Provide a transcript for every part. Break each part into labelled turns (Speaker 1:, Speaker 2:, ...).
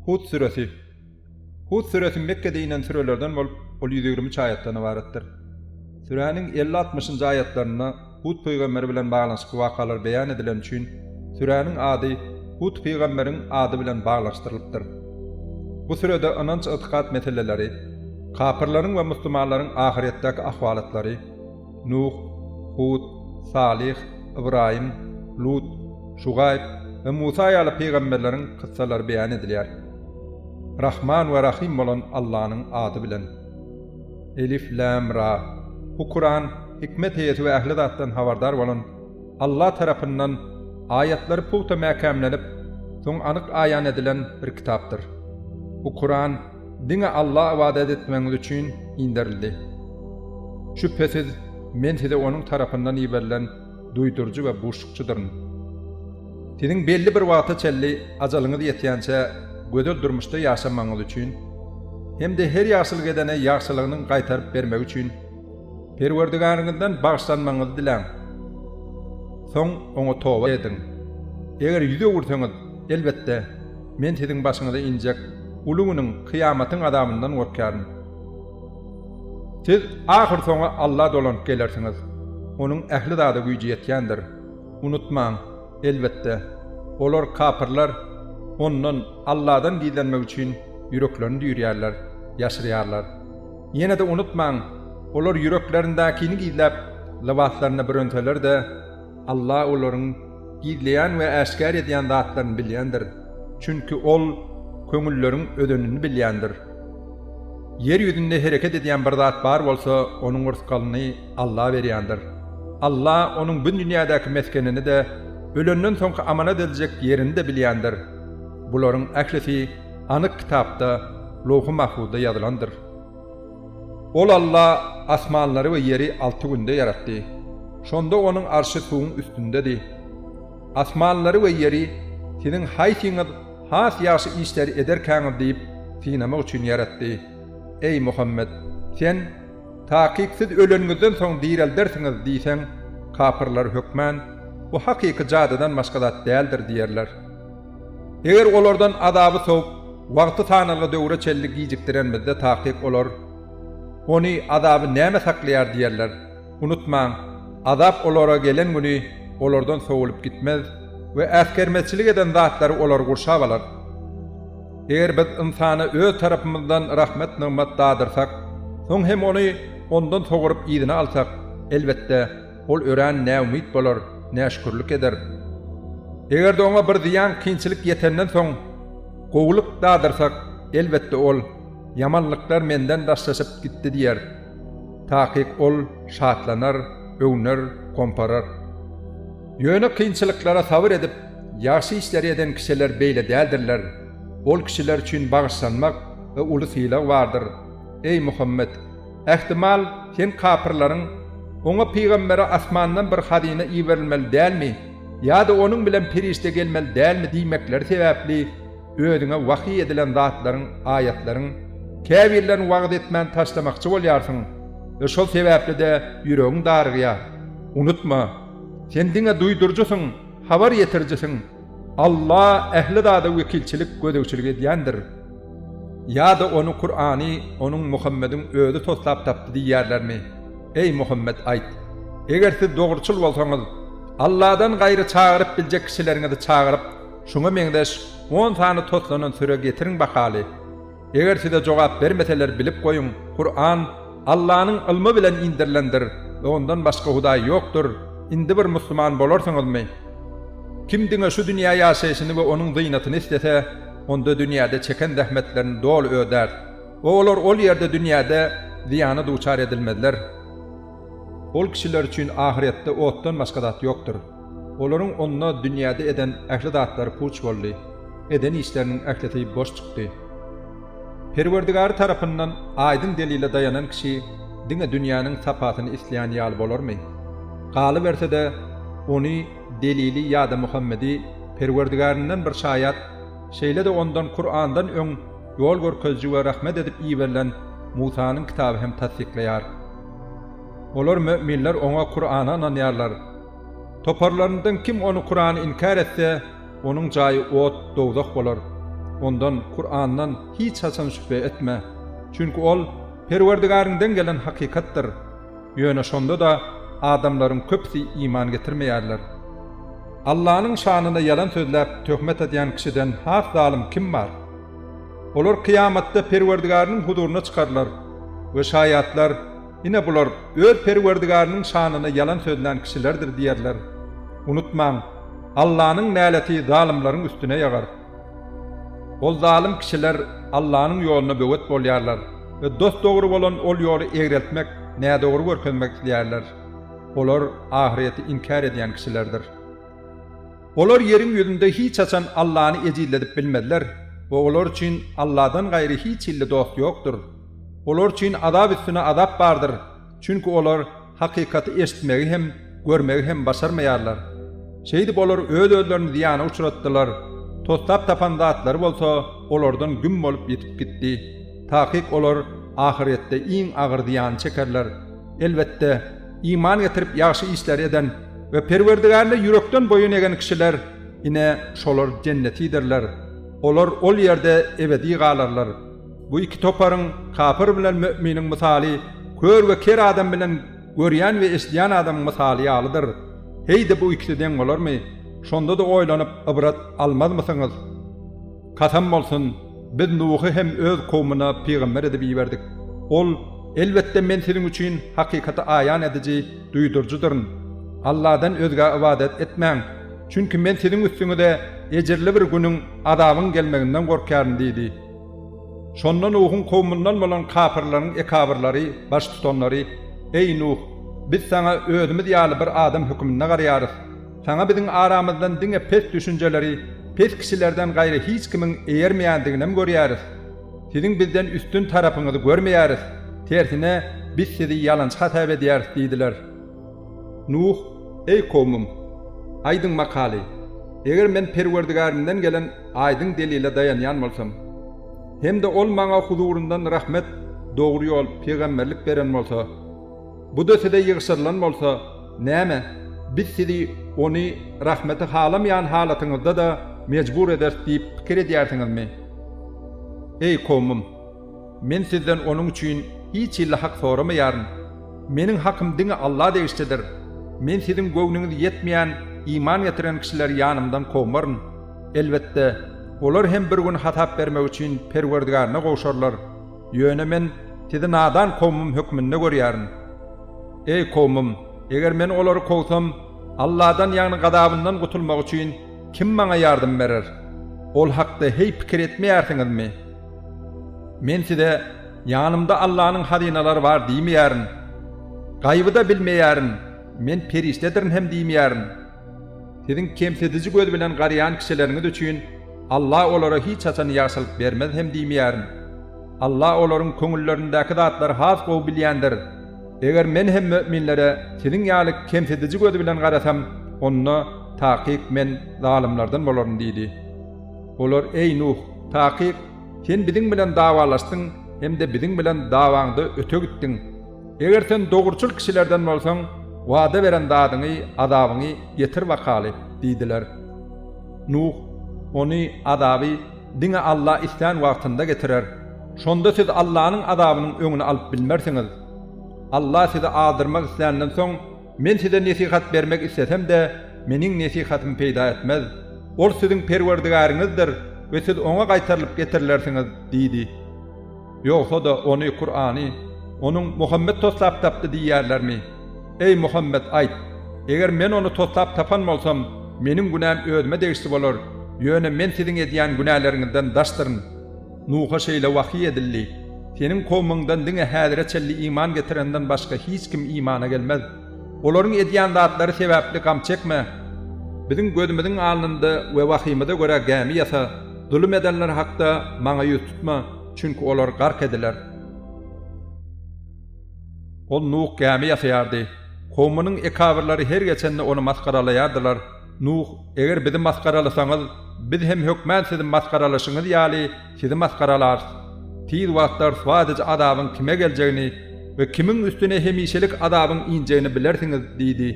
Speaker 1: Hud süresi. Hud süresi Mekgede inen sürelerden bolup, ol ýüz ýigrimi üç aýatdan ybaratdyr. Süräniň elli-altmyşynjy aýatlarynda Hud pygamber bilen baglanyşykly wakalar beýan edileni üçin, süräniň ady Hud pygamberiň ady bilen baglanyşdyrylypdyr. Bu sürede ynanç-ygtykat meseleleri, kapyrlaryň we musulmanlaryň ahyrýetdäki ahwalatlary, Nuh, Hud, Salyh, Ybraýym, Lut, Şugaýb we Musa ýaly pygamberleriň kyssalary beýan edilýär. Rahman we Rahym bolan Allanyň ady bilen. Elif, Lam, Ra. Bu Kuran hikmet eýesi we ähli zatdan habardar bolan Alla tarapyndan aýatlary pugta mäkämlenip, soň anyk aýan edilen bir kitapdyr. Bu Kuran diňe Alla ybadat etmegiňiz üçin inderildi. Şübhesiz, Men size Onuň tarapyndan iberilen duýduryjy we buşlukçydyryn. Siziň belli bir wagta çenli ajalyňyz ýetýänçä gözel durmuşda ýaşamagyňyz üçin hem-de her ýagşylyk edene ýagşylygynyň gaýtaryp bermegi üçin Perwerdigäriňizden bagyşlanmagyňyzy diläň. Soň Oňa toba ediň. Eger ýüz öwürseňiz, elbetde. Men siziň başyňyza injek uly günüň, kyýamatyň azabyndan gorkýaryn. Siz ahyrsoňy Alla dolanyp gelersiňiz. Onuň ähli zada güýji ýetýändir. Unutmaň, elbetde, olar, kapyrlar, Ondan, Alladan, gizlenmek üçin ýüreklerini düýrýärler, ýaşyrýarlar. Ýene-de unutmaň, olar ýüreklerindäkini gizläp, lybaslarynda bürenseler-de, Alla olaryň gizleýän we äşgär edýän zatlaryny bilýändir, çünki Ol köňülleriň özenini bilýändir. Ýer ýüzünde hereket edýän bir zat bar bolsa, onuň rysgalyny Alla berýändir. Alla onuň bu dünýädäki mesgenini-de, ölenden soňky amanat ediljek ýerini-de bilýändir. Bularyň ählisi anyk kitapda, Lowhy-Mahfuzda ýazylandyr. Ol Alla asmanlary we ýeri alty günde ýaratdy. Şonda Onuň arşy suwuň üstündedi. Asmanlary we ýeri siziň haýsyňyz has ýagşy işleri ederkäňiz diýip synamak üçin ýaratdy. Eý, Muhammet! Sen, Takyk siz öleniňizden soň direldersiňiz diýseň, kapyrlar hökmän, Bu hakyky jadydan başga zat däldir diýerler. Eger olardan azaby sowup, wagty sanalgy döwre çenli gijikdirenimizde takyk olar, Ony, azaby, näme saklaýar? diýerler. Unutmaň, azap olara gelen güni olardan sowulyp gitmez we äsgermezçilik eden zatlary olary gurşap alar. Eger biz ynsana Öz tarapymyzdan rahmet-nygmat dadyrsak, soň hem ony ondan sogrup yzyna alsak, elbetde, Ol örän näumyt bolar, näşükürlik eder. Eger-de oňa bir zyýan, kynçylyk ýetenden soň, gowulyk dadyrsak, elbetde ol, Ýamanlyklar menden daşlaşyp gitdi diýer. Takyk ol şatlanar, öwner, gomparar. Ýöne kynçylyklara sabyr edip, ýagşy işleri eden kişiler beýle däldirler. Ol kişiler üçin bagyşlanmak we uly sylag bardyr. Eý, Muhammet! Ähtimal, sen kapyrlaryň, Oňa pygambere asmandan bir hazyna iberilmeli dälmi ýa-da onuň bilen perişde gelmeli dälmi diýmekleri sebäpli özüňe wahyý edilen zatlaryň, aýatlaryň, käbirlerini wagyz etmän taşlamakçy bolýarsyň we şol sebäpli-de ýüregiň darygýar. Unutma, sen diňe duýduryjysyň, habar ýetirijisiň. Alla ähli zada wekilçilik, gözegçilik edýändir. Ýa-da ony, Kurany, onuň, Muhammediň, özi toslap tapdy diýýärlermi? Eý, Muhammet, aýt, Eger siz dogruçyl bolsaňyz, Alladan gaýry çagyryp biljek kişileriňizi çagyryp, şuňa meňzeş on sany toslanan süre getiriň bakaly. Eger size jogap bermeseler bilip goýuň, Kuran, Allanyň ylmy bilen indirilendir we ondan başga hudaý ýokdur, indi bir musulman bolarsyňyzmy? Kim diňe şu dünýä ýaşaýşyny we onuň zynatyny islese, onda dünýäde çeken zähmetlerini doly ödär we olar ol ýerde dünýäde zyýana duçar edilmezler. Ol kişiler üçin ahyretde otdan başga zat ýokdur. Olaryň onda dünýäde eden ähli zatlary puç boldy, eden işleriniň ählisi boş çykdy. Perwerdigary tarapyndan aýdyň delile daýanan kişi diňe dünýäniň sapasyny isleýän ýaly bolarmy? Galyberse-de, ony, delili ýa-da Muhammedi, Perwerdigaryndan bir şaýat, şeýle-de ondan Kurandan öň ýol görkeziji we rahmet edip iberilen Musanyň kitaby hem tassyklaýar. Olar, möminler, oňa, Kurana, ynanýarlar. Toparlaryndan kim ony, Kurany, inkär etse, Onuň jaýy ot, dowzah bolar. Ondan, Kurandan, hiç haçan şübhe etme. Çünki ol Perwerdigäriňden gelen hakykatdyr. Ýöne şonda-da adamlaryň köpüsi iman getirmeýärler. Allanyň şanyna ýalan sözläp, töhmet adýan kişiden has zalym kim bar? Olar kyýamatda Perwerdigäriniň huzuryna çykarylar we şaýatlar, Ine bular öz Perwerdigäriniň şanyna ýalan sözlän kişilerdir diýerler. Unutmaň! Allanyň näleti zalymlaryň üstüne ýagar. Ol zalym kişiler Allanyň ýoluna böwet bolýarlar we dos-dogry bolan ol ýoly egreltmek, nädogry görkezmek isleýärler. Olar ahyreti inkär edýän kişilerdir. Olar ýeriň ýüzünde hiç haçan Allany ejizledip bilmezler we olar üçin Alladan gaýry hiç hilli dost ýokdur. Olar üçin azap üstüne azap bardyr, çünki olar Hakykaty eşitmegi hem, görmegi hem başarmaýarlar. Şeýdip olar öz-özlerini zyýana uçratdylar. Toslap tapan zatlary bolsa olardan güm bolup ýitip gitdi. Takyk olar ahyrýetde iň agyr zyýany çekerler. Elbetde, iman getirip ýagşy işleri eden we Perwerdigärine ýürekden boýun egen kişiler, ine, şolar jennetidirler. Olar ol ýerde ebedi galarlar. Bu iki toparyň, kapyr bilen möminiň mysaly kör we ker adam bilen görýän we eşidýän adamyň mysaly ýalydyr. Heý-de bu ikisi deň bolarmy? Şonda-da oýlanyp ybrat almazmysyňyz? Kasam bolsun, Biz Nuhy hem öz kowmuna pygamber edip iberdik. Ol, Elbetde, men siziň üçin hakykaty aýan ediji, duýduryjydyryn. Alladan özgä ybadat etmäň, çünki men siziň üstüňize ejirli bir günüň, azabyň, gelmeginden gorkýaryn diýdi. Şonda Nuhuň kowumyndan bolan kapyrlaryň ekabyrlary, baştutanlary, Eý, Nuh! Biz saňa özümiz ýaly bir adam höküminde garaýarys. Saňa biziň aramyzdan diňe pes düşünjeleri, pes kişilerden gaýry hiç kimiň eýermeýändiginem görýäris. Siziň bizden üstün tarapyňyzy görmeýäris. Tersine, biz sizi ýalançy hasap edýäris diýdiler. Nuh, Eý kowmym! Aýdyň makaly, eger men Perwerdigärimden gelen aýdyň delile daýanýan bolsam, hem-de ol maňa huzuryndan rahmet, dogry ýol, pygamberlik beren bolsa, bu-da size ýygşyrylan bolsa, näme, biz sizi ony rahmeti halamaýan halatyňyzda-da mejbur ederis diýip pikir edýärsiňizmi? Eý kowmym! Men sizden onuň üçin hiç hilli hak soramaýaryn. Meniň hakym diňe Alla degişlidir. Men siziň göwnüňiz ýetmeýän iman getiren kişileri ýanymdan kowmaryn. Elbetde, olar hem bir gün hasap bermek üçin Perwerdigärine gowşarlar. Ýöne Men sizi nadan kowmym hökmünde görýärin. Eý, kowmym, eger Men olary kowsam, Alladan, ýagny gazabyndan gutulmak üçin kim maňa ýardam berer? Ol hakda heý pikir etmeýärsiňizmi? Men size, Ýanymda Allanyň hazynalary bar diýmeýärin. Gaýby-da bilmeýärin, Men perişdedirin hem diýmeýärin. Siziň kemsidiji göz bilen garaýan kişileriňiz üçin Alla olara hiç haçan ýagşylyk bermez hem diýmeýärin. Alla olaryň köňüllerindäki zatlary has gowy bilýändir. Eger Men hem möminlere siziň ýaly kemsidiji göz bilen garasam, onda, takyk, men zalymlardan bolaryn diýdi. Olar, Eý, Nuh, takyk, sen biziň bilen dawalaşdyň hem-de biziň bilen dawaňda öte gitdiň. Eger sen dogruçyl kişilerden bolsaň, wada beren zadyňy, azabyňy, getir bakaly! diýdiler. Nuh, Ony, azaby, diňe Alla islän wagtynda getirer. Şonda siz Allanyň azabynyň öňüni alyp bilmersiňiz. Alla sizi azdyrmak isländen soň, Men size nesihat bermek islesem-de, Meniň nesihatym peýda etmez. Ol siziň Perwerdigäriňizdir we siz Oňa gaýtarylyp getirilersiňiz diýdi. Ýogsa-da Ony, Kurany, Onuň Muhammet toslap tapdy diýýärlermi? Eý, Muhammet, aýt, Eger men ony toslap tapan bolsam, meniň günäm özüme degişli bolar, ýöne men siziň edýän günäleriňizden daşdyryn. Nuha şeýle wahyý edildi, Seniň kowmyňdan diňe häzire çenli iman getirenden başga hiç kim imana gelmez. Olaryň edýän zatlary sebäpli gam çekme. Biziň gözümiziň alnynda we wahyýymyza görä gämi ýasa. Zulum edenler hakda Maňa ýüz tutma, çünki olar gark ediler. Ol Nuh gämi ýasaýardy. Kowmunyň ekabyrlary her geçende ony masgaralaýardylar. Nuh, Eger bizi masgaralasaňyz, biz hem hökmän sizi masgaralaşyňyz ýaly, sizi masgaralarys. Tiz wagtda ryswa ediji azabyň kime geljegini we kimiň üstüne hemişelik azabyň injegini bilersiňiz diýdi.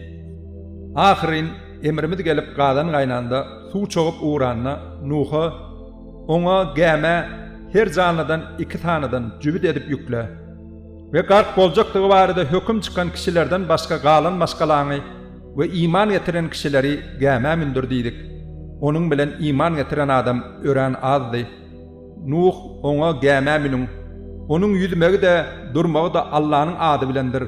Speaker 1: Ahyryn, emrimiz gelip gazan gaýnanda, suw çogup ugranda, Nuha, Oňa, gämä, her janlydan iki sanydan jübüt edip ýükle. We gark boljakdygy barada höküm çykan kişilerden başga galan maşgalaňy, We iman getiren kişileri gämä mündir diýdik. Onuň bilen iman getiren adam örän azdy. Nuh oňa, Gämä münüň. Onuň ýüzmegi-de, durmagy-da Allanyň ady bilendir.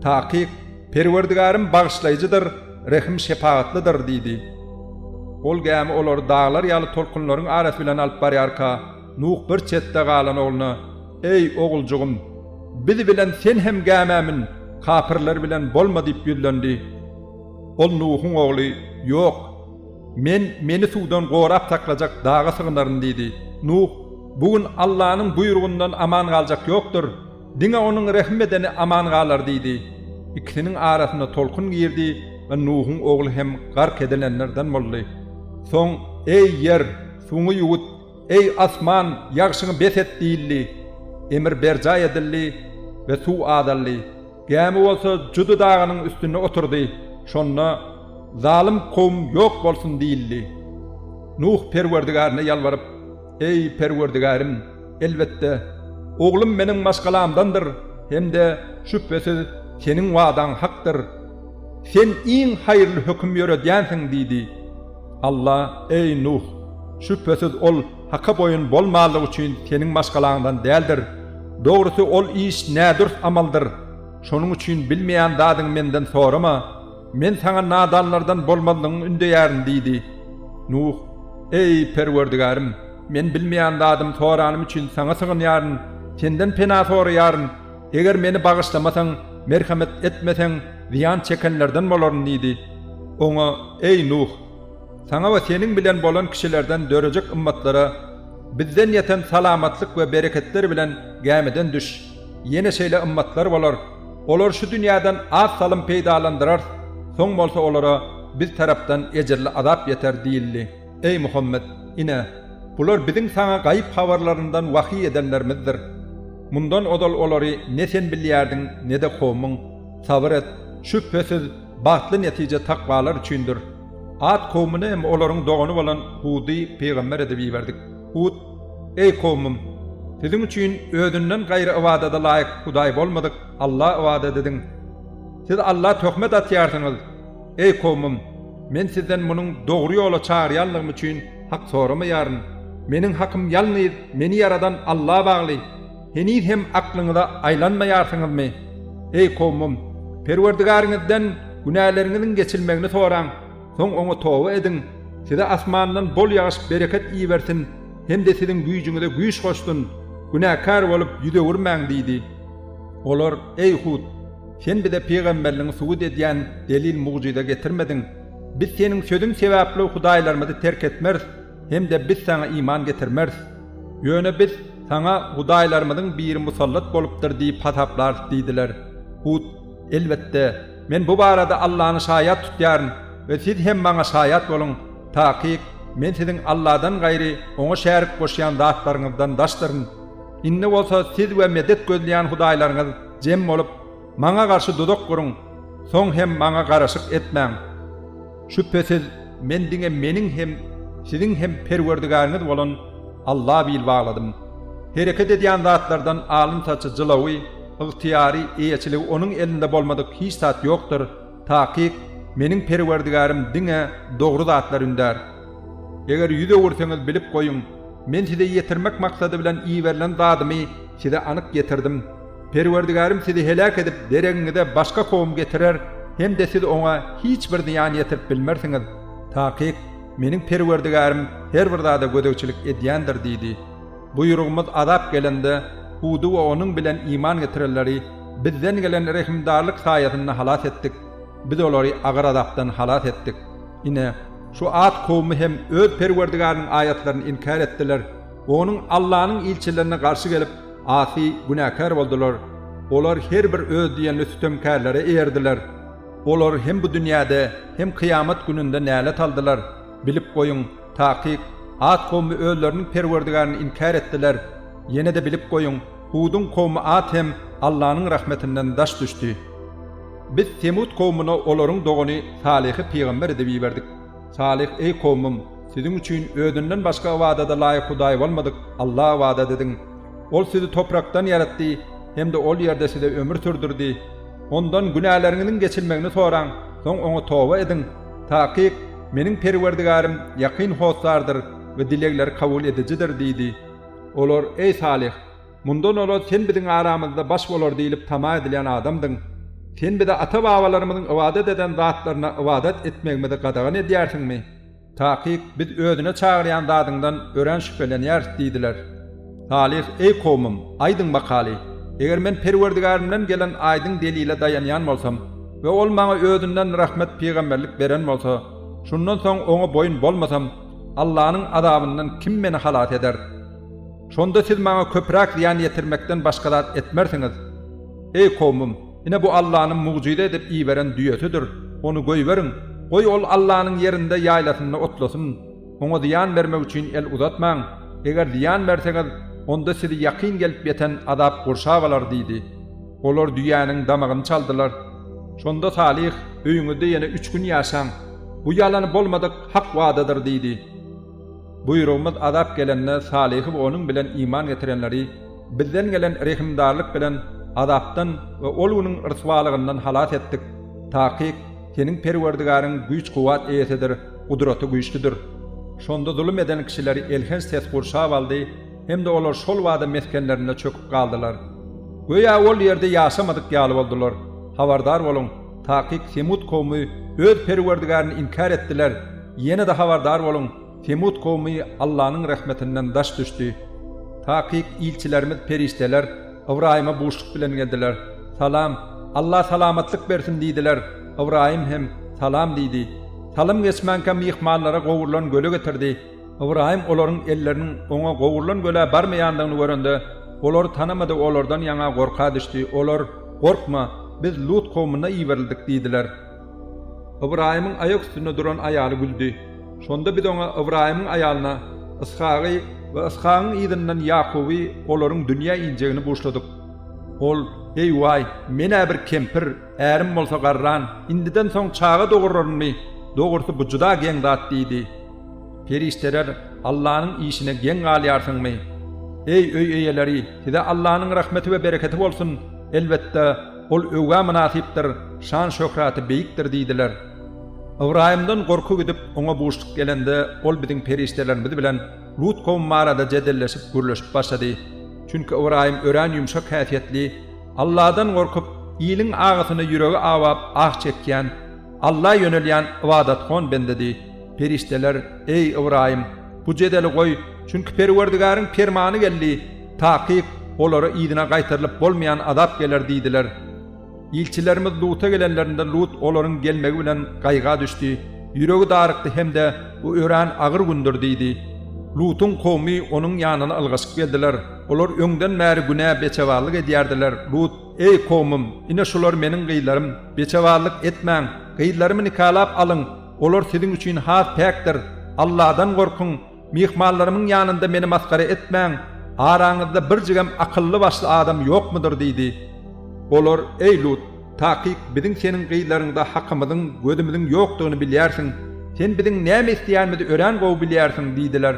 Speaker 1: Takyk, Perwerdigarym bagyşlaýjydyr, rehim-şepagatlydyr diýdi. Ol gämi olary daglar ýaly tolkunlaryň arasy bilen alyp barýarka, Nuh bir çetde galan ogluna, Eý, oguljygym, biz bilen sen hem gämä mün, kapyrlar bilen bolma diýip ýüzlendi. Ol Nuhuň ogly, Ýok, men meni suwdan gorap saklajak daga sygynaryn diýdi. Nuh, Bu gün Allanyň buýrugyndan aman galjak ýokdur, diňe onuň rehim edeni aman galar diýdi. Ikisiniň arasyna tolkun girdi we Nuhuň ogly hem gark edilenlerden boldy. Soň, Eý, ýer, suňy ýuwut! Eý, asman, ýagşyňy bes et! diýildi. Emir berjaý edildi we suw azaldy. Gämi bolsa Judy dagynyň üstünde oturdy. Şonda, Zalym kowum ýok bolsun! diýildi. Nuh Perwerdigaryna ýalbaryp, Eý, Perwerdigarym, elbetde, oglum meniň maşgalamdandyr hem-de, şübhesiz, Seniň wadaň hakdyr. Sen iň haýyrly höküm ýöredýänsiň diýdi. Alla, Eý, Nuh! Şübhesiz ol Haka boýun bolmanlyk üçin seniň maşgalaňdan däldir. Dogrusy, ol iş nädürs amaldyr. Şonuň üçin bilmeýän zadyňy Menden sorama. Men saňa nadanlardan bolmazlygyňy ündeýärin diýdi. Nuh, Eý, Perwerdigärim! Men bilmeýän zadym soranym üçin Saňa sygynýaryn. Senden pena soraýaryn. Eger meni bagyşlamasaň, merhemet etmeseň, zyýan çekenlerden bolaryn diýdi. Oňa, Eý, Nuh! Saňa we seniň bilen bolan kişilerden dörejek ymmatlara, Bizden ýeten salamatlyk we bereketler bilen gämiden düş. Ýene şeýle ymmatlar bolar. Olary şu dünýäden az salym peýdalandyrarys, soň bolsa olara Biz tarapdan ejirli azap ýeter diýildi. Eý Muhammet! Ine, bular Biziň saňa gaýyp habarlaryndan wahýy edenlerimizdir. Mundan ozal olary ne sen bilýärdiň, ne-de kowmuň. Sabyr et! Şübhesiz, bagtly netije takwalar üçindir. At kowmuny hem olaryň dogany bolan Hudy pygamber edip iberdik. Hud, Eý kowmum! Siziň üçin Özünden gaýry ybadada laýyk hudaý bolmadyk Alla ybadat ediň. Siz Alla töhmet atýarsyňyz. Eý kowmym! Men sizden munuň dogry ýola çagyrýanlygym üçin hak soramaýaryn. Meniň hakym ýalnyz meni ýaradan Alla bagly. Heniz hem aklyňyza aýlanmaýarsyňyzmy? Eý kowmym! Perwerdigäriňizden günäleriňiziň geçilmegini soraň, soň Oňa toba ediň. Size asmandan bol ýagyş bereket ibersin hem-de siziň güýjüňize güýç goşsun. Günäkär bolup ýüz öwürmäň diýdi. Olar, Eý Hud! Sen bize pygamberligiňi subut edýän delil-mugjyza getirmediň. Biz Seniň sözüň sebäpli hudaýlarymyzy terk etmeris hem-de biz Saňa iman getirmeris. Ýöne biz Saňa hudaýlarymyzyň biri musallat bolupdyr diýip hasaplarys diýdiler. Hud, Elbetde, men bu barada Allany şaýat tutýaryn we siz hem maňa şaýat boluň, takyk, men siziň Alladan gaýry Oňa şärik goşýan zatlaryňyzdan daşdyryn. Indi bolsa siz we medet gözleýän hudaýlaryňyz jem bolup, maňa garşy dudak guruň, soň hem maňa garaşyk etmäň. Şübhesiz, men diňe meniň hem, siziň hem Perwerdigäriňiz bolan Alla bil bagladym. Hereket edýän zatlardan alyn-saçy, jylawy, ygtyýary, eýeçiligi onuň elinde bolmadyk hiç zat ýokdur, takyk, meniň Perwerdigärim diňe dogry zatlar ündär. Eger ýüz öwürseňiz bilip goýuň, men size ýetirmek maksady bilen iberilen zadymy Size anyk getirdim. Perwerdigärim sizi heläk edip, deregiňize başga kowum getirer hem-de siz oňa hiç bir zyýan ýetirip bilmersiňiz. Takyk, Meniň Perwerdigärim her bir zada gözegçilik edýändir diýdi. Buýrugymyz azap gelende, Hudy we onuň bilen iman getirenleri Bizden gelen rehimdarlyk saýasynda halas etdik. Biz olary agyr azapdan halas etdik. Ine, şu At kowumy hem öz Perwerdigäriniň aýatlaryny inkär etdiler. Onuň Allanyň ilçilerine garşy gelip, asy, günäkär boldular. Olar her bir öz diýenli sütemkärlere eýerdiler. Olar hem bu dünýäde, hem kyýamat gününde nälet aldylar. Bilip goýuň, takyk, At kowmy özleriniň Perwerdigaryny inkär etdiler. Ýene-de bilip goýuň, Huduň kowmy At hem Allanyň rahmetinden daş düşdi. Biz Semut kowmuna olaryň dogany Salyhy pygamber edip iberdik. Salyh, eý kowmym! Siziň üçin özünden başga ybadada laýyk Hudaý bolmadyk Alla ybadat ediň. Ol sizi toprakdan ýaratdy hem-de ol ýerde size ömür sürdürdi. Ondan günäleriňiziň geçilmegini soraň, soň Oňa toba ediň. Takyk, Meniň Perwerdigarym ýakyn hossardyr we dilegleri kabul edijidir diýdi. Olar, Eý Salyh! Mundan ozal sen biziň aramyzda baş bolar diýlip tama edilýän adamdyň. Sen bize ata-babalarymyzyň ybadat eden zatlaryna ybadat etmegimizi gadagan edýärsiňmi? Takyk, biz özüne çagyrýan zadyňdan örän şübhelenýäris diýdiler. Salyh, Eý kowmym, aýdyň bakaly, eger men Perwerdigärimden gelen aýdyň delile daýanýan bolsam we ol maňa özünden rahmet pygamberlik beren bolsa, şundan soň oňa boýun bolmasam, Allanyň azabyndan kim meni halas eder? Şonda siz maňa köpräk zyýan ýetirmekden başga zat etmersiňiz. Eý, kowmym, ine bu Allanyň mugjyza edip iberen düýesidir, ony goýberiň, goý ol Allanyň ýerinde, ýaýlasynda otlasyn. Oňa zyýan bermek üçin el uzatmaň. Eger zyýan berseňiz, onda sizi ýakyn gelip ýeten azap gurşap alar diýdi. Olar düýäniň damagyny çaldylar. Şonda Salyh, Öýüňizde ýene üç gün ýaşaň. Bu ýalany bolmadyk hak wadadyr diýdi. Buýrugymyz azap gelende Salyhy we onuň bilen iman getirenleri Bizden gelen rehimdarlyk bilen azapdan we ol günüň ryswalygyndan halas etdik. Takyk, seniň Perwerdigaryň güýç-kuwwat eýesidir, gudraty güýçlüdir. Şonda zulum eden kişileri elhenç ses gurşap aldy hem-de olar şolbada mesgenlerinde çöküp galdylar. Göýä ol ýerde ýaşamadyk ýaly boldular. Habardar boluň, takyk Semut kowmy öz Perwerdigaryny inkär etdiler Ýene-de habardar boluň, Semut kowmy Allanyň rehmetinden daş düşdi. Takyk ilçilerimiz, perişdeler, Ybraýyma buşluk bilen geldiler. Salam, Alla salamatlyk bersin diýdiler. Ybraýym hem, Salam diýdi. Salym geçmänkä myhmanlara gowrulan göle getirdi. Ybraýym olaryň elleriniň oňa gowrulan gölä barmaýandygyny görende, olary tanamady, olardan ýaňa gorka düşdi. Olar, Gorkma, biz Lut kowmuna iberildik diýdiler. Ybraýymyň aýak üstünde duran aýaly güldi. Şonda biz oňa Ybraýymyň aýalyna Yshagy we Yshagyň yzyndan Ýakuby olaryň dünýä injegini buşladyk. Ol, Eý, waý, men-ä bir kempir, ärim bolsa garran, indiden soň çaga dogurarynmy? Dogrusy, bu juda geň zat diýdi. Perişdeler, Allanyň işine geň galýarsyňmy? Eý, öý eýeleri, size Allanyň rahmeti we bereketi bolsun! Elbetde! Ol öwgä mynasypdyr, şan-şöhraty beýikdir diýdiler. Ybraýymdan gorky gidip, oňa buşluk gelende, ol biziň perişdelerimiz bilen Lut kowum barada jedelleşip, gürleşip başlady. Çünki Ybraýym örän ýumşak häsiýetli, Alladan gorkup, iliň agysyna ýüregi awap, ah çekýän, Alla ýönelýän ybadatgon bendedi. Perişdeler, Eý, Ybraýym, bu jedeli goý, çünki Perwerdigäriň permany geldi. Takyk, olara yzyna gaýtarylyp bolmaýan azap geler diýdiler. Ilçilerimiz Luta gelenlerinde Lut olaryň gelmegi bilen gaýga düşdi, ýüregi darykdy hem-de Bu örän agyr gündür diýdi. Lutuň kowumy onuň ýanyna ylgaşyp geldiler. Olar öňden bäri günä, beçebarlyk edýärdiler. Lut, Eý, kowumym, ine şular meniň gyzlarym, beçebarlyk etmäň, gyzlarymy nikalap alyň, olar siziň üçin has päkdir. Alladan gorkuň! Myhmanlarymyň ýanynda meni masgara etmäň, araňyzda birjigem akylly-başly adam ýokmudyr? diýdi. Olar, Eý, Lut, takyk biziň seniň gyzlaryňda hakymyzyň, gözümiziň ýokdugyny bilýärsiň. Sen biziň näme isleýänimizi örän gowy bilýärsiň diýdiler.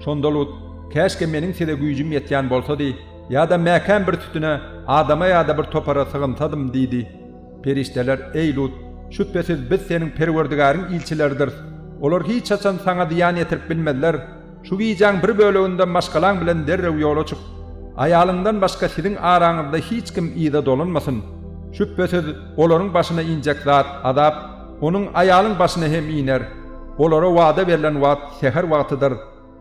Speaker 1: Şonda Lut, Käşgä meniň size güýjüm ýetýän bolsady, ýa-da mäkäm bir sütüne, adama ýa-da bir topara sygynsadym diýdi. Perişdeler, Eý, Lut! Şübhesiz, biz seniň Perwerdigäriň ilçileridiris. Olar hiç haçan saňa zyýan ýetirip bilmezler. Şu gijäň bir böleginde maşgalaň bilen derrew ýola çyk. Aýalyňdan başga siziň araňyzda hiç kim yza dolanmasyn. Şübhesiz, olaryň başyna injek zat, azap, onuň, aýalyň, başyna hem iner. Olara wada berlen wagt säher wagtydyr.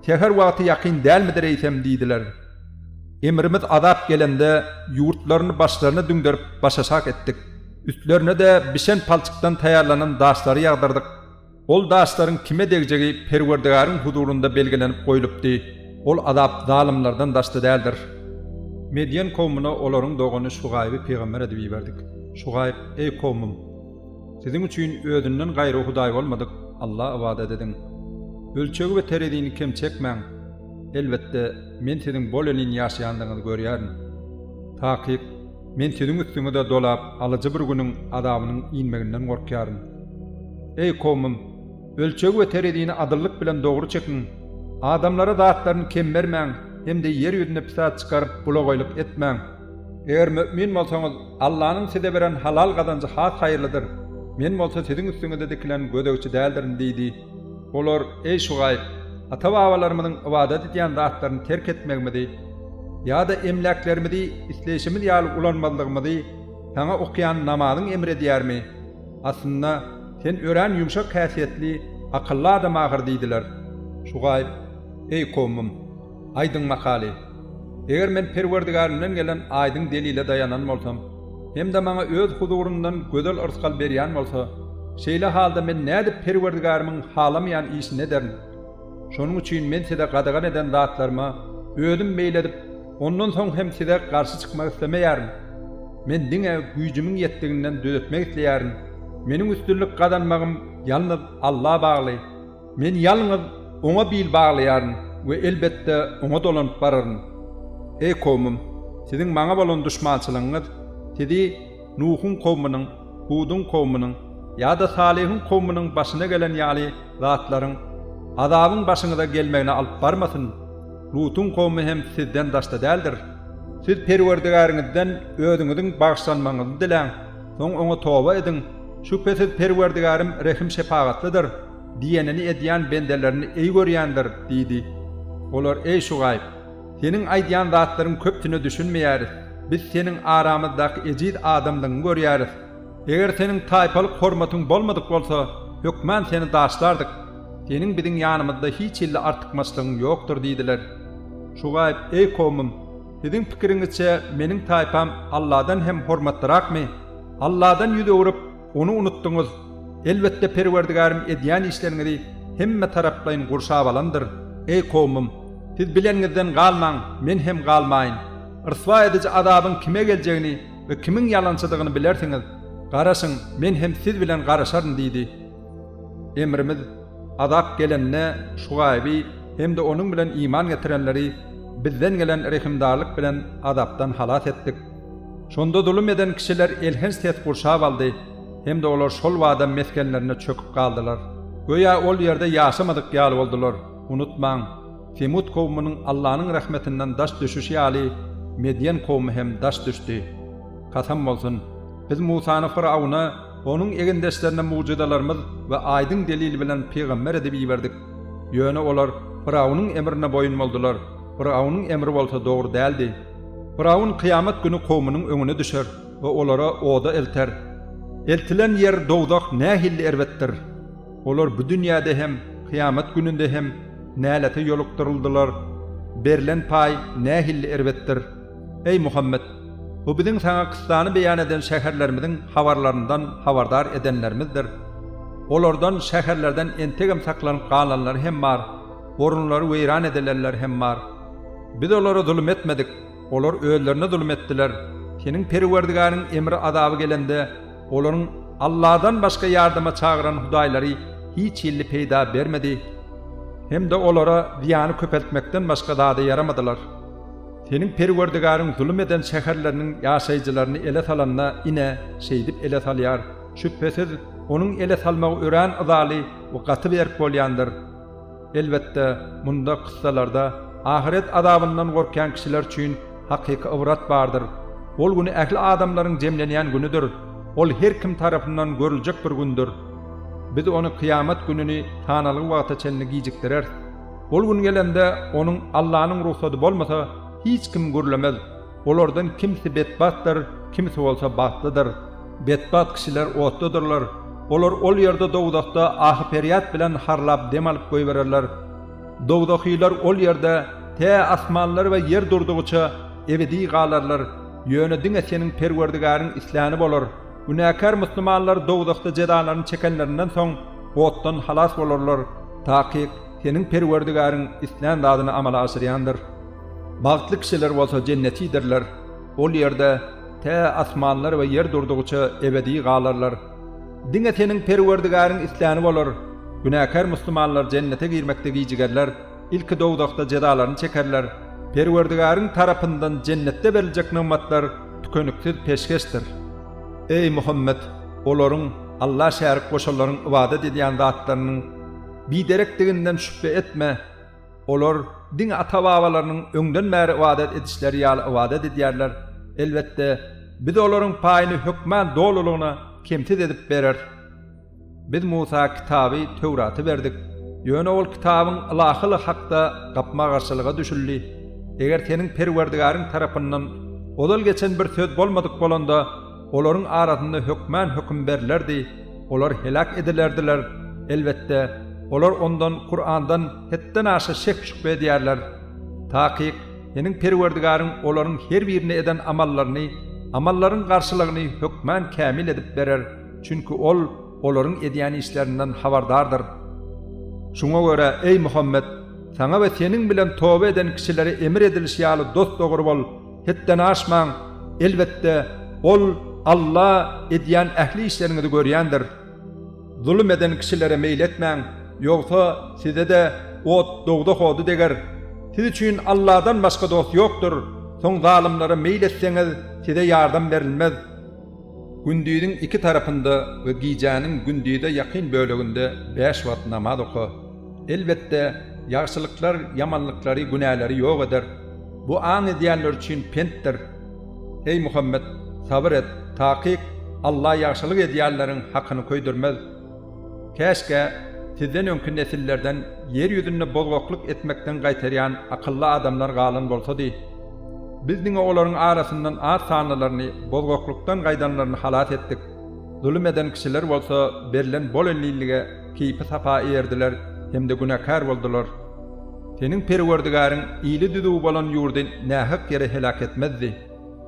Speaker 1: Säher wagty ýakyn dälmidir eýsem diýdiler. Emrimiz azap gelende, ýurtlaryny başlaryna düňderip başaşak etdik. Üstlerine-de bişen palçykdan taýýarlanan daşlary ýagdyrdyk. Ol daşlaryň kime degjegi Perwerdigaryň huzurynda belgilenip goýlupdy. Ol azap zalymlardan daşda däldir. Medýen kowmuna olaryň dogany Şugaýby pygamber edip iberdik. Şugaýb, Eý kowmym! Siziň üçin özünden gaýry hudaý bolmadyk Alla ybadat ediň. Ölçegi we terezini kem çekmäň. Elbetde, Men siziň bolelin ýaşaýandygyňyzy görýärin. Takyk, Men siziň üstüňize dolap alyjy bir günüň azabynyň inmeginden gorkýaryn. Eý, kowmym! Ölçegi we terezini adyllyk bilen dogry çekiň. Adamlara zatlaryny kem bermäň hem-de ýer ýüzüne pisat çykaryp bulagaýlyk etmäň. Eger mümin bolsaňyz, Allanyň size beren halal gazanjy has haýyrlydyr, men bolsa siziň üstüňizde dikilen gözegçi däldirin diýdi. Olar, Eý Şugaýb! Ata-babalarymyzyň ybadat edýän zatlaryny terk etmegimizi ýa-da emläklerimizi isleýşimiz ýaly ulanmazlygymyzy saňa okaýan namazyň emr edýärmi? Aslynda, sen örän ýumşak häsiýetli, akylly adama ahyr diýdiler. Şugaýb, Eý kowmym! Aýdyň makaly. Eger men Perwerdigarimden gelen aýdyň delile daýanan bolsam, hem-de maňa Öz huzuryndan gözel yrsgal berýän bolsa, şeýle halda men nädip Perwerdigarimiň halamaýan işini ederin? Şonuň üçin men size gadagan eden zatlaryma özüm meýil edip, ondan soň hem size garşy çykmak islemeýärin. Men diňe güýjümiň ýetdiginden düzetmek isleýärin. Meniň üstünlik gazanmagym ýalnyz Alla bagly. Men ýalňyz Oňa bil baglaýaryn we elbetde Oňa dolanyp bararyn. Eý kowmym, siziň Maňa bolan duşmançylygyňyz sizi Nuhuň kowmunyň, Huduň kowmunyň ýa-da Salyhyň kowmunyň başyna gelen ýaly zatlaryň, azabyň başyňyza gelmegine alyp barmasyn. Lutuň kowmy hem sizden daşda däldir. Siz Perwerdigäriňizden özüňiziň bagyşlanmagyňyzy diläň. Soň Oňa toba ediň, şübhesiz Perwerdigärim rehim-şepagatlydyr, diýenini edýän bendelerini eý görýändir diýdi. Olar, Eý Şugaýb! Seniň aýdýan zatlaryň köpsüne düşünmeýäris, biz seniň aramyzdaky ejiz adamlygyňy görýäris. Eger seniň taýpalyk hormatyň bolmadyk bolsa, hökman seni daşlardyk. Seniň biziň ýanymyzda hiç hilli artykmaçlygyň ýokdur diýdiler. Şugaýb, Eý kowmym! Siziň pikiriňizçe meniň taýpam Alladan hem hormatlyrakmy? Alladan ýüz öwrüp, Ony unutdyňyz. Elbetde Perwerdigärim edýän işleriňizi hemme taraplaýyn gurşap alandyr. Eý kowmym! Siz bileniňizden galmaň, men hem galmaýyn. Ryswa ediji azabyň kime geljegini we kimiň ýalançydygyny bilersiňiz. Garaşyň, men hem siz bilen garaşaryn diýdi. Emrimiz Azap gelende Şugaýby hem-de onuň bilen iman getirenleri Bizden gelen rehimdarlyk bilen azapdan halas etdik. Şonda zulum eden kişiler elhenç ses gurşap aldy hem-de olar şol bada mesgenlerinde çöküp galdylar. Göýä ol ýerde ýaşamadyk ýaly boldular. Unutmaň, Semut kowumynyň Allanyň rahmetinden daş düşüşi ýaly, Medýen kowumy hem daş düşdi. Kasam bolsun! Biz Musany Fyrawuna, Onuň egindeşlerine mugjyzalarymyz we aýdyň delil bilen pygamber edip iberdik. Ýöne olar Fyraunyň emrine boýun boldular, Fyraunyň emri bolsa dogry däldi. Fyraun kyýamat güni kowmynyň öňüne düşer we olary oda elter. Eltilen ýer dowzah nähilli erbetdir! Olar bu dünýäde hem, kyýamat gününde hem nälete ýolukdyryldylar. Berlen paý nähilli erbetdir! Eý Muhammet! Bu biziň saňa kyssany beýan eden şäherlerimiziň habarlaryndan habardar edenlerimizdir. Olardan, şäherlerden entegem saklanyp galanlary hem bar, orunlary weýran edilenler hem bar. Biz olara zulum etmedik, olar özlerine zulum etdiler. Seniň Perwerdigäriň emri-azaby gelende, olaryň Allahdan başga ýardama çagyran hudaýlary hiç hilli peýda bermedi hem-de olara zyýany köpeltmekden başga zada ýaramadylar. Seniň Perwerdigäriň zulum eden şäherleriniň ýaşaýjylaryny ele salanda, ine, şeýdip ele salýar. Şübhesiz, Onuň ele salmagy örän yzaly we gaty berk bolýandyr. Elbetde, munda, kyssalarda, ahyret azabyndan gorkýan kişiler üçin hakyky ybrat bardyr. Ol gün ähli adamlaryň jemlenýän günüdir. Ol her kim tarapyndan görüljek bir gündür. Biz ony, kyýamat gününi, sanalgy wagta çenli gijikdireris. Ol gün gelende, onuň Allanyň rugsady bolmasa, hiç kim gürlemez. Olardan kimsi betbagtdyr, kimsi bolsa bagtlydyr. Betbagt kişiler otdadyrlar. Olar ol ýerde, dowzahda, ahy-perýat bilen harlap dem alyp goýbererler. Dowzahylar ol ýerde tä asmanlar we ýer durdugyça ebedi galarlar, ýöne diňe seniň Perwerdigäriň isläni bolar. Günäkär musulmanlar dowzahda jezalaryny çekenlerinden soň, otdan halas bolarlar, takyk Seniň Perwerdigäriň islän zadyny amala aşyrýandyr. Bagtly kişiler bolsa jennetidirler. Ol ýerde tä asmanlar we ýer durdugyça ebedi galarlar. Diňe Seniň Perwerdigäriň isläni bolar, günäkär musulmanlar jennete girmekde gijigerler. Ilki dowzahda jezalaryny çekerler. Perwerdigäriň tarapyndan jennetde beriljek nygmatlar tükeniksiz peşgeşdir. Eý, Muhammet, olaryň, Alla şärik goşanlaryň ybadat edýän zatlarynyň, biderekdiginden şübhe etme. Olar diňe ata-babalarynyň öňden bäri ybadat edişleri ýaly ybadat edýärler. Elbetde, Biz olaryň paýyny hökman dolulygyna, kemsiz edip bereris. Biz Musa kitaby Töwraty berdik, ýöne ol kitabyň ylahylygy hakda gapma-garşylyga düşüldi. Eger seniň Perwerdigaryň tarapyndan ozal geçen bir söz bolmadyk bolanda, olaryň arasynda hökmän höküm berlerdi, olar heläk edilerdiler, elbetde, olar ondan, Kurandan, hetden aşa şek-şübhe edýärler. Takyk, seniň Perwerdigaryň olaryň her birine eden amallaryny, amallaryň garşylygyny hökmän kämil edip berer. Çünki Ol olaryň edýän işlerinden habardardyr. Şuňa görä, eý Muhammet, saňa we seniň bilen toba eden kişilere emir edilişi ýaly dost-dogry bol, hetden aşmaň, elbetde, Ol, Alla, edýän ähli işleriňizi görýändir. Zulum eden kişilere meýil etmäň, ýogsa, size-de ot, dogzah ody deger. Siz üçin Alladan başga dost ýokdur, soň zalymlara meýil etseňiz, size ýardam berilmez. Gündiziň iki tarapynda we gijäniň gündize ýakyn böleginde bäş wagt namaz oka. Elbetde, ýagşylyklar ýamanlyklary, günäleri ýok eder. Bu aň edýänler üçin pentdir. Eý Muhammet, sabyr et, takyk, Alla ýagşylyk edýänleriň hakyny köýdürmez. Käşgä, sizden öňki nesillerden ýer ýüzünde bozgaklyk etmekden gaýtarýan akylly adamlar galan bolsady. Biz diňe olaryň arasyndan az sanlylaryny bozgaklykdan gaýdanlaryny halas etdik. Zulum eden kişiler bolsa berlen bol ellilige keýpi-sapa erdiler hem-de günäkär boldular. Seniň Perwerdigäriň ili düzüw bolan ýurdy nähak ýere heläk etmezdi.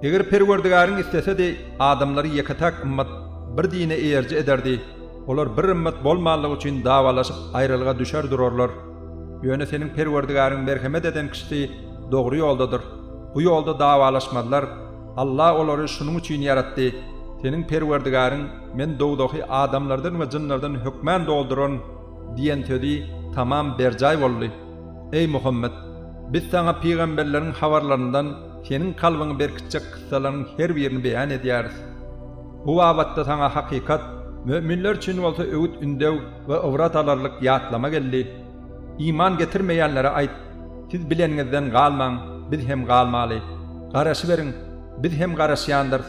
Speaker 1: Eger Perwerdigäriň islesedi, adamlary ýeke-täk ymmat bir dine eýeriji ederdi, olar bir ymmat bolmanlygy üçin dawalaşyp aýralyga düşer durarlar. Ýöne seniň Perwerdigäriň merhemet eden kişisi dogry ýoldadyr. Bu ýolda dawalaşmazlar. Alla olary şunuň üçin ýaratdy. Seniň Perwerdigäriň, Men dowzahy adamlardan we jynlardan hökmän dolduraryn diýen sözi tamam berjaý boldy. Eý Muhammet! Biz saňa pygamberleriň habarlaryndan, Seniň kalbyňy berkitjek kyssalaryň her birini beýan edýäris. Bu babatda saňa hakykat, möminler üçin bolsa öwüt-ündew we ybrat alarlyk ýatlama geldi. Iman getirmeýänlere aýt, Siz bileniňizden galmaň, biz hem galmaly. Garaşyberiň, biz hem garaşýandyrys.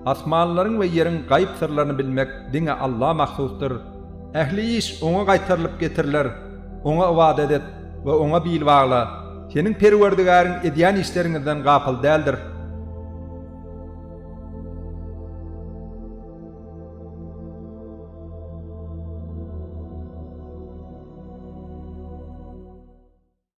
Speaker 1: Asmanlaryň we ýeriň gaýyp syrlaryny bilmek diňe Alla mahsusdyr. Ähli iş Oňa gaýtarylyp getiriler. Oňa ybadat et we Oňa bil bagla. Seniň Perwerdigäriň edýän işleriňizden gapyl däldir.